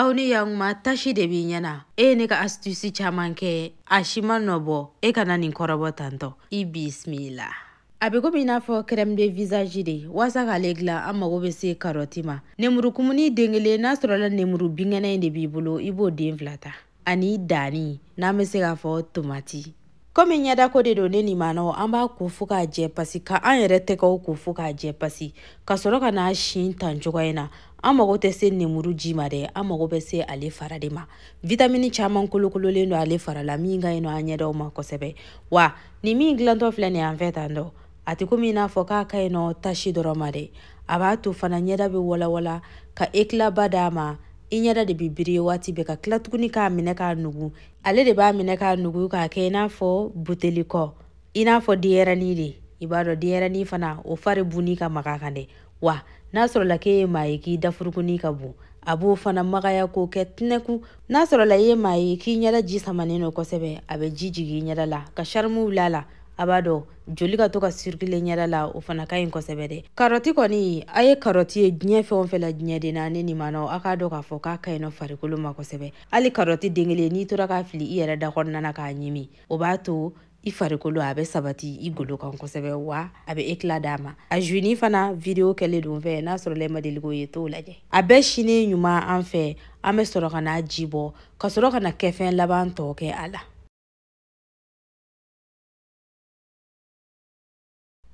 aw ni yankuma tasi de b'i ɲɛ na e ye ne ka asitusi caman kɛ a si ma nɔ bɔ e ka na nin kɔrɔbɔ tantɔ i bisimila a bɛ komi i n'a fɔ crème de visage de waasa k'ale dilan an mago bɛ se karɔti ma nemurukumuni den kelen n'a sɔrɔla nemuru binkɛnɛ in de b'i bolo i b'o den fila ta ani danni n'an bɛ se k'a fɔ tomati komi ɲɛdako de don ne ni maanaw an b'a ko fo k'a jɛ pasi ka an yɛrɛ tɛgɛw ko fo k'a jɛ pasi ka sɔrɔ ka n'a sin tan cogoya in na an mago tɛ se nemuru ji ma dɛ an mago bɛ se ale fara de ma vitamini caman kolokololen don ale fara la min ka ɲi nɔ an ɲɛdaw ma kosɛbɛ wa nin min dilantɔ filɛ nin an fɛ tan dɔ a tɛ komi i n'a fɔ k'a ka ɲi nɔ tasi dɔrɔn ma dɛ a b'a to fana ɲɛda bɛ walawala ka ekilaba d'a ma i ɲɛda de bɛ biri waati bɛɛ ka tila tuguni k'a minɛ k'a nugu ale de b'a minɛ k'a nugu k'a kɛ i n'a fɔ buteli kɔ i n'a fɔ denyɛrɛni de i b'a dɔn denyɛrɛni fana o fari bunni ka maga kan dɛ wa n'a sɔrɔla k'e ye maa ye k'i dafurukunni ka bon a b'o fana magaya k'o kɛ tɛnɛku n'a sɔrɔla i ye maa ye k'i ɲɛda ji samanen don kosɛbɛ a bɛ ji jigin i ɲɛda la ka sarimu wuli a la a b'a to joli ka to ka sirikile ɲɛda la o fana ka ɲi kosɛbɛ dɛ karɔti kɔni a ye karɔti ye diɲɛ fɛn o fɛn la diɲɛ den na ne ni maanaw a k'a dɔn k'a fɔ k'a ka ɲi nɔ farikolo ma kosɛbɛ hali karɔti den kelen n'i tora k'a fili i yɛrɛ da kɔnɔna na k'a ɲimi o b'a to i farikolo a bɛ sabati i golo kan kosɛbɛ wa a bɛ ekila d'a ma a juini fana video kɛlen don an fɛ n'a sɔrɔla e ma deli k'o ye t'o lajɛ a bɛɛ sinen ɲuman an fɛ an bɛ sɔrɔ ka n'a ji bɔ ka sɔrɔ ka na kɛfɛn laban tɔ kɛ a la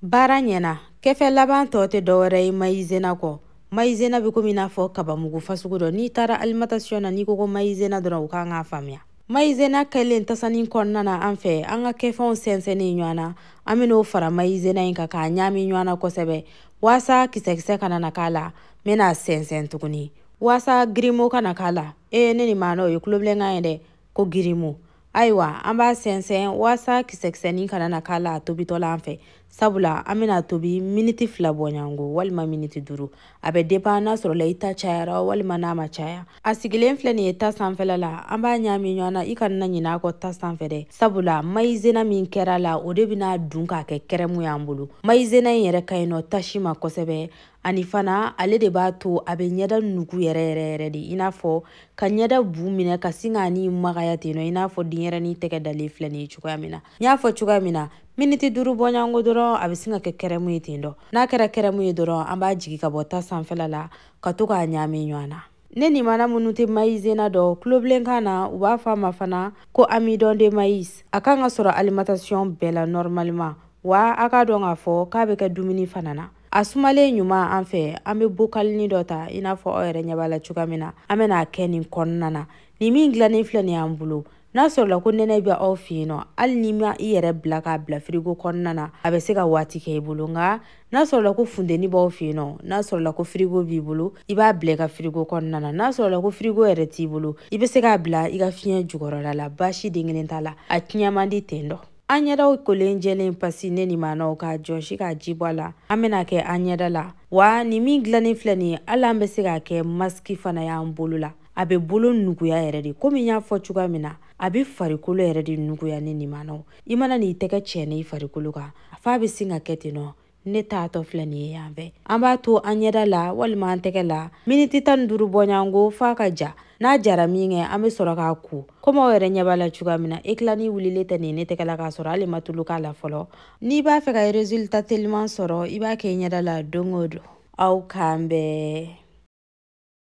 baara ɲɛna kɛfɛn laban tɔ tɛ dɔwɛrɛ ye mayizena kɔ mayizena bɛ komi i n'a fɔ kabamugu fasugu dɔ n'i taara alimatasiyɔn na n'i ko ko mayizena dɔrɔn u kan k'a faamuya mayizena kɛlen tasani kɔnɔna na an fɛ an ka kɛfɛnw sɛnsɛnnen ɲɔgɔn na an bɛ n'o fara mayizena in kan k'a ɲaami ɲɔgɔn na kosɛbɛ waasa kisɛkisɛ kana na k'a la n bɛna sɛnsɛn tuguni waasa girimo kana k'a la ee ne ni maana o ye tulobilenkan ye dɛ ko girimo ayiwa an b'a sɛnsɛn waasa kisɛkisɛnin kana na k'a la a tobitɔ la an fɛ sabula an bɛna tobi miniti fila bɔɲɔgɔnko walima miniti duuru a bɛ depan n'a sɔrɔla i ta cayara walima n'a ma caya a sigilen filɛ nin ye ta sanfɛla la an b'a ɲaami ɲɔgɔn na i kana na ɲinɛ a kɔ ta sanfɛ dɛ sabula mayizena min kɛra la o de bɛna dun k'a kɛ kɛrɛmu y'an bolo mayizena in yɛrɛ ka ɲi nɔ tasi ma kosɛbɛ ani fana ale de b'a to a bɛ ɲɛda nugu yɛrɛ yɛrɛ yɛrɛ de i n'a fɔ ka ɲɛda bu minɛ ka sin k'a ni magaya ten nɔ i n'a fɔ denyɛrɛni tɛgɛ dalen filɛ nin ye cogoya min na n y'a fɔ cogoya min na miniti duuru bɔɲɔgɔnko dɔrɔn a bɛ sin ka kɛ kɛrɛmu ye ten dɔ n'a kɛra kɛrɛmu ye dɔrɔn an b'a jigin ka bɔ ta sanfɛla la ka to k'a ɲaami ɲɔgɔn na ne ni maana minnu tɛ mayizena dɔn tulobilenkan na u b'a fɔ a ma fana ko amidon de maïs a kan ka sɔrɔ alimentation bɛɛ la normalement wa a k'a dɔn k'a fɔ k'a bɛ kɛ dumuni fana na a sumalen ɲuman an fɛ an bɛ bokalini dɔ ta i n'a fɔ aw yɛrɛ ɲɛ b'a la cogoya min na an bɛna a kɛ nin kɔnɔna na nin min dilannen filɛ nin y'an bolo n'a sɔrɔla ko nɛnɛ bɛ aw fɛ yen nɔ hali n'i ma i yɛrɛ bila k'a bila firigo kɔnɔna na a bɛ se ka waati kɛ i bolo nka n'a sɔrɔla ko funteni b'aw fɛ yen nɔ n'a sɔrɔla ko firigo b'i bolo i b'a bila i ka firigo kɔnɔna na n'a sɔrɔla ko firigo yɛrɛ t'i bolo i bɛ se k'a bila i ka fiɲɛ jukɔrɔla la baasi den kelen t'a la a tiɲɛ man di ten dɔ an ɲɛdaw kolen jɛlen pasi ne ni maanaw k'a jɔsi k'a ji bɔ a la an bɛna a kɛ an ɲɛda la wa nin min dilannen filɛ nin ye hali an bɛ se k'a kɛ masiki fana y'an bolo la a bɛ bolo nuguya yɛrɛ de komi n y'a fɔ cogoya min na a bɛ farikolo yɛrɛ de nuguya ne ni maanaw i mana n'i tɛgɛ cɛnɛ i farikolo kan a f'a bɛ sin ka kɛ ten nɔ ne taatɔ filɛ nin ye yan fɛ an b'a to an ɲɛda la walima an tɛgɛ la miniti tan ni duuru bɔɲango f'a ka ja n'a jara minkɛ an bɛ sɔrɔ k'a ko komi aw yɛrɛ ɲɛ b'a la cogoya min na ekila nin wulilen tɛ nin ne tɛgɛ la k'a sɔrɔ hali n ma tulu k'a la fɔlɔ n'i b'a fɛ ka resulta teliman sɔrɔ i b'a kɛ i ɲɛda la don o don aw k'an bɛn